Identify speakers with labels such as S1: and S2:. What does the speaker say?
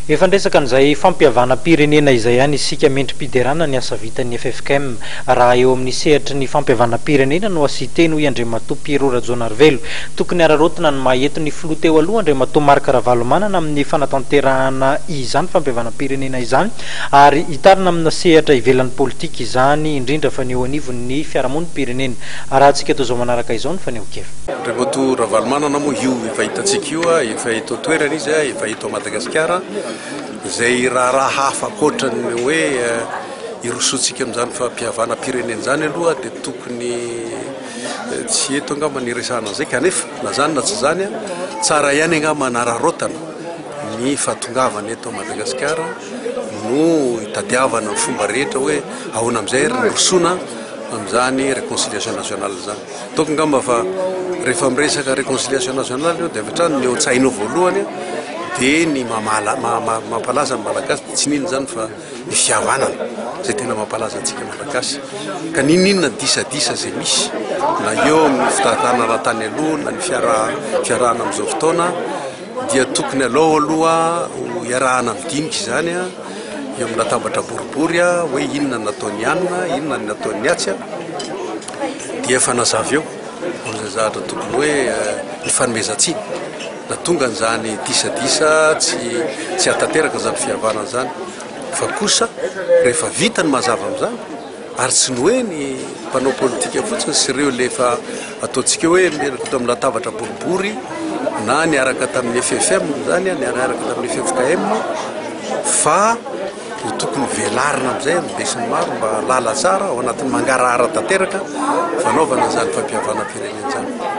S1: Efa niresaka an'izay fampihavanam-pirenena izay ihany isika mendri-piderana ny asa vitan'ny ffkm raha eo amin'ny sehatry ny fampihavanam-pirenena no asia-teny hoy Andriamatoa Pierrot Rajaonarivelo. Tokony hararaotina ny maha eto ny filoha teo aloha Andriamatoa Marc Ravalomanana amin'ny fanatanterahana izany fampihavanam-pirenena izany ary hitarina amina sehatra ivelan'ny politika izany indrindra fa ny eo anivon'ny fiarahamonim-pirenena arahantsika toy izao manaraka izao ny fanehoan-kevitra. Andriamatoa Ravalomanana
S2: moa io efa hitantsika io, efa eto an-toerana izy, efa. Eto Madagasikara, izay raharaha hafa ankoatra ny hoe hirosoantsika amin'izany fahapihavanam-pirenena izany aloha dia tokony tsy eto angamba ny hiresahana an'izay kanefa na izany na tsy izany tsara ihany angamba hanararaotana ny fahatongavana eto Madagasikara no hitadiavana ny fomba rehetra hoe ahoana amin'izay ary hirosoana amin'izany réconciliation nationale izany. Ataoko angamba fa rehefa miresaka réconciliation nationale eo dia avy hatrany ny eo an-tsainao voalohany dia ny mamala, ma, ma, mampalaza ny malagasy dia tsy n'inona izany fa ny fihavanana izay tena mampalaza antsika malagasy. Ka n'inon'inona ny disadisa izay misy na eo amin'ny fitantanana raha tany aloha na ny fiaraha, fiarahana amin'izao fotoana dia tokony alao aloha ho iarahana midinika izany eo amin'ny latabatra boribory hoe inona ny nataon'i anona, inona ny nataon'ny atsy. dia efa nazava eo izay zavatra tokony hoe ny fanomezan-tsiny natonga an'izany disadisa tsy tsy hatanteraka izany fihavanana izany fa kosa rehefa vita ny mazava amin'izany ary tsy ny hoe ny mpanao politika fotsiny sy ireo lefa ataontsika hoe miaraka eto amin'ny latabatra boribory na niaraka tamin'ny FFM izany niaraka tamin'ny FFKM fa dia tokony hovelarina amin'izay amin'ny besinimaro mba hahalala tsara ao anatin'ny mangarahara tanteraka fanaovana izany fampihavanam-pirenena izany.